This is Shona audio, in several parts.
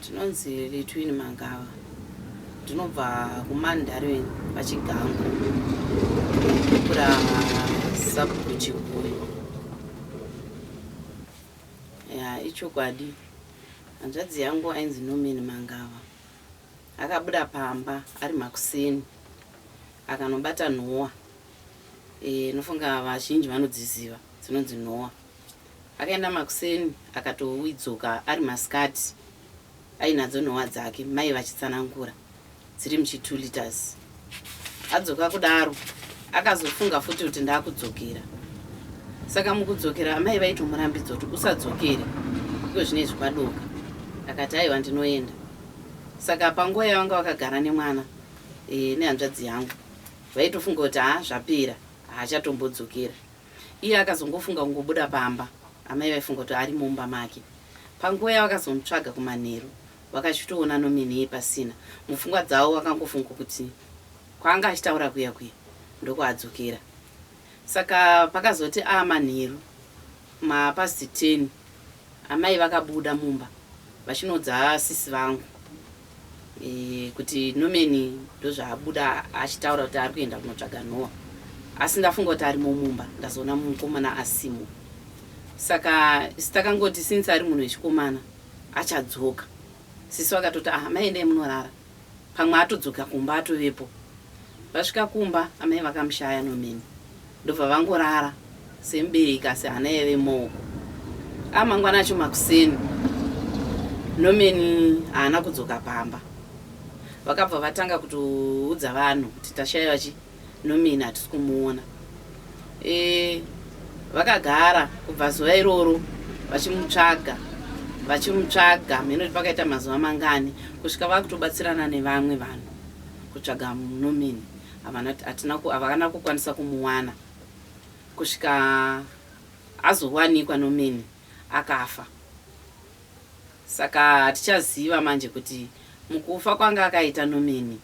Tinonzi Letwin Mangava ndinobva kuMandarin paChigango kura sabhuku Chikuyu. Ya ichokwadi hanzvadzi yangu ainzi Norman Mangava akabuda pamba ari makuseni akanobata nhowa e, nofunga vazhinji vanodziziva dzinonzi nhowa. Akaenda makuseni akatoidzoka ari masikati ainadzo nhowa dzake mai vachitsanangura dziri muchi 2 liters. Adzoka kudaro akazofunga futi kuti ndakudzokera saka mukudzokera amai vaitomurambidza kuti usadzokere iko zvine izvi kwadoka akati aiwa ndinoenda saka panguva yavanga vakagara nemwana e, nehanzvadzi yangu vaitofunga kuti haa zvapera haachatombodzokerwa Iye akazongofunga kungobuda pamba amai vaifunga kuti ari mumba make. Panguva yavakazomutsvaga kumanheru vakachitoona nominee pasina. Mupfungwa dzavo vakangofunga kuti kwaanga achitaura kuya kuya ndokwaadzokera. Saka pakazoti aa manheru ma past ten amai vakabuda mumba vachinoudza sisi vangu. kuti Norman ndozvaabuda achitaura kuti ari kuenda kunotsvaga Noah asi ndafunga kuti arimo mumba ndazoona mukomana asimo saka isi takangoti since ari munhu wechikomana achadzoka sisi vakatoti ah amai endai munorara pamwe atodzoka kumba atovepo vasvika kumba amai vakamushaya Norman Ndobva vangorara semubereki asi hana yaive mooko. A mangwana acho makuseni Norman haana kudzoka pamba. Vakabva vatanga kutoudza vanhu kuti tashaiva chi Norman hatisi kumuona. E, vakagara kubva zuva iroro vachimutsvaga vachimutsvaga mheno kuti pakaita mazuva mangani kusvika vakutobatsirana nevamwe vanhu kutsvaga Norman. havana hatina ku- havana kukwanisa kumuwana kusvika azowanikwa nomeni akafa saka hatichaziva manje kuti mukufa kwanga akaita nomeni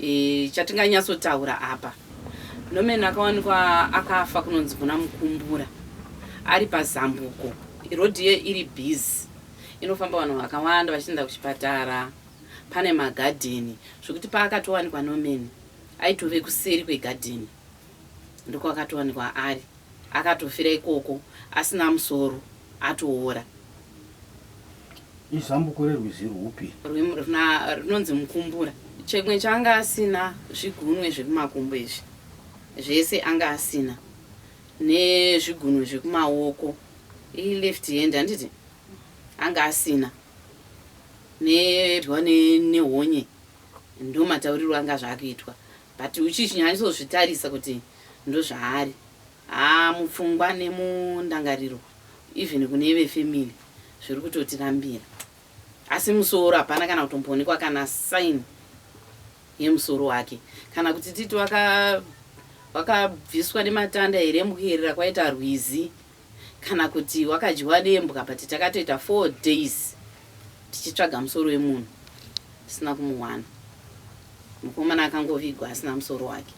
e, chatinganyatsotaura apa nomeni akawanikwa akafa kunonzi kuna mukumbura ari pazambuko rodhi iyo iri busy inofamba vanhu vakawanda vachienda kuchipatara pane magadheni zvekuti paakatowanikwa Norman aitove kuseri kwegadheni ndokwaakatowanikwa ari akatofira ikoko asina musoro atoora. Izambuko rerwizi rwupi? Runonzi Mukumbura. Chimwe chaanga asina zvigunwe zvekumakumbo izvi zvese anga asina nezvigunwe zvekumaoko ileft hand handiti Anga asina nedwa nehonye ndomatauriro anga zvakuitwa but uchichinyanyosozvitarisa kuti ndozvaari haa mupfungwa nemundangariro even kune vefamily zviri kutotirambira asi musoro hapana kana kutomboonekwa kana sign yemusoro wake kana kuti titi wakabviswa nematanda here mukuyerera kwaita rwizi kana kuti wakadyiwa nembwa but takatoita four days tichitsvaga musoro wemunhu tisina kumuwana mukomana akangovigwa asina musoro wake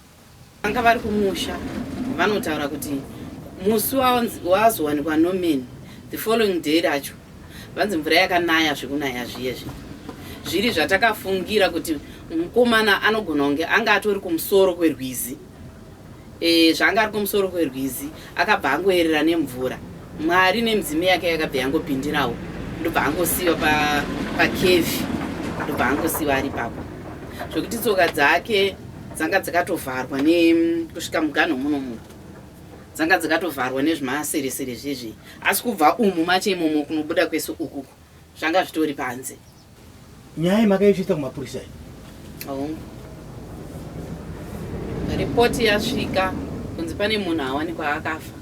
vanga vari kumusha vanotaura kuti musi wazowanikwa nomen the following day racho vanzi mvura yakanaya zvekunaya zviye zvi zviri zvatakafungira kuti mukomana anogona kunge anga atori kumusoro kwerwizi E, zvaanga ari kumusoro kwerwizi akabva angoerera nemvura mwari nemidzimu yake yakabva yangopindirawo ndobva angosiyiwa pakevhi pa ndobva angosiyiwa ari papo zvekuti tsoka dzake dzanga dzakatovharwa nekusvika muganho muno muno dzanga dzakatovharwa nezvimaseresere zvezvei asi kubva umu mache imomo kunobuda kwese ukuku zvanga zvitori panze nyaya yemakaisvitsa kumapurisa iyi hongu ripoti yasvika kunzi pane munhu awanikwa akafa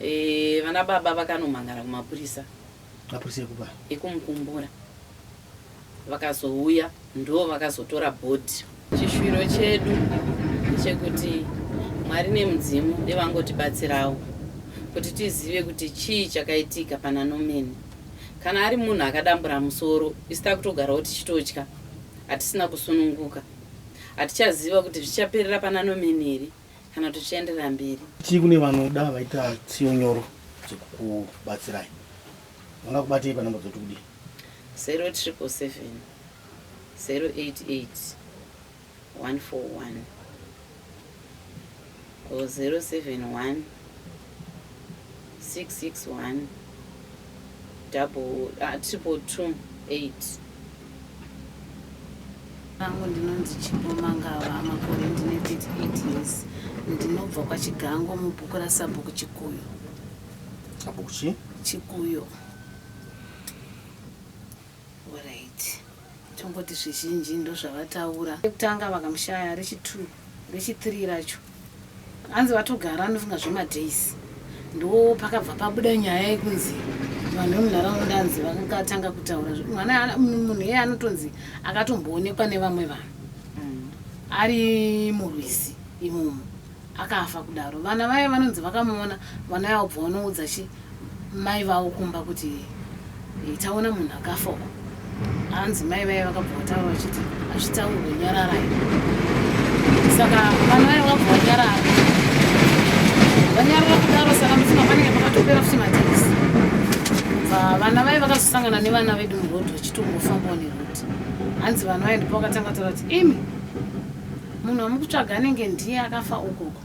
e, vana baba vakanomhangara kumapurisa mapurisa ekupa ekumukumbura vakazouya ndoo vakazotora body. Chishwiro chedu chekuti Mwari nemudzimu devangotibatsirawo kuti tizive kuti chii chakaitika pana Norman. Kana ari munhu akadambura musoro isu takutogarawo tichitotya hatisina kusununguka. Hatichaziva kuti zvichaperera pana Norman here kana kuti zvichaenderera mberi. Chii kune vanoda vaita tsiyo nyoro dzekukubatsirai? Vangakubatei panhamba dzoti kudii? Vangu ndinonzi Chipo Mangava, makore ndine 38 years. Ndinobva kwaChigango mubhuku raSabhuku Chikuyo. Sabhuku chi? Chikuyo. Alright. Tongoti zvizhinji ndozvavataura. Rekutanga vakamushaya rechi2 rechi3 racho anzi vatogara anofunga zvemadays ndo pakabva pabuda nyaya yekunzi vanhu vemunharaunda anzi vakatanga kutaura mwana munhu iye anotonzi akatomboonekwa nevamwe vanhu mm. ari murwizi imomo akafa kudaro vana vaye vanonzi vakamuona vana yavo bva vanoudza chi mai vavo kumba kuti eh, taona munhu akafa uko hanzi mai vaye vakabva vataura vachiti hazvitaurwe nyararai saka vana vaye vakabva vanyarara vanyarara kudaro saka mufunga panenge pakatopera futi matekisi bva vana vaye vakazosangana nevana vedu murodhi vachitongofanbawo nerodhi hanzi vana vaye ndipo vakatanga taura kuti imi Munhu wamukutsvaga anenge ndiye akafa ukoko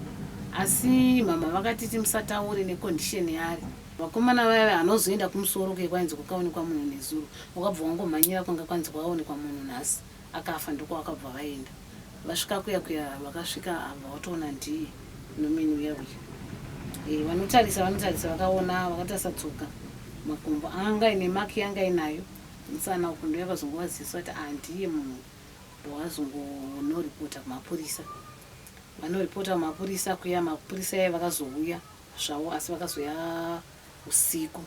asi mhamha vakatiti musataure necondition yaari vakomana vaive hanozoenda kumusoro kuye kwainzi kwakaonekwa munhu nezuro wakabva wangomhanyira kwanga kwanzi kwaonekwa munhu nhasi akafa ndoko vakabva vaenda vasvika kuya kuya vakasvika abva watoona ndiye nomini uya uya e, vanotarisa vanotarisa vakaona vakatarisa tsoka makumbo anga ine maki yanga inayo musana uku ndoyakazongova ziso ati andiye ah, munhu wazongonoreporter kumapurisa vanoreporter kumapurisa kuya mapurisa yaye vakazouya zvavo asi vakazoya usiku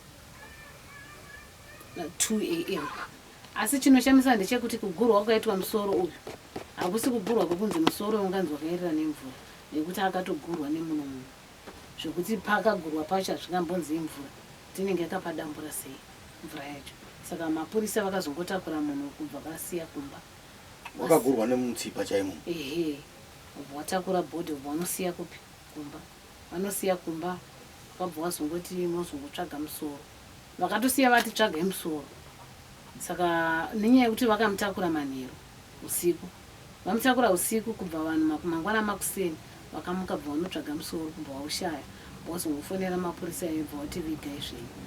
2 am asi chinoshamisa ndechekuti kugurwa kwakaitwa musoro uyu hakusi kugurwa kwekunzi musoro unganzi wakaerera nemvura nekuti akatogurwa nemuno munhu zvekuti pakagurwa pacho hazvingambonzi imvura tinenge tapadambura sei mvura yacho saka mapurisa vakazongotakura munhu uku bva vasiya kumba wakagurwa nemutsipa chaimo ehe ubva watakura body ubva wanosiya kupi kumba vanosiya kumba vakabva wazongoti mozongotsvaga musoro vakatosiya vati tsvagai musoro saka nenyaya yekuti vakamutakura manheru usiku Vamutakura husiku kubva vanhu maku mangwana makuseni vakamuka bva vanotsvaga musoro kubva vaushaya vozongofonera mapurisa iwe bva wati vigai zvenyu.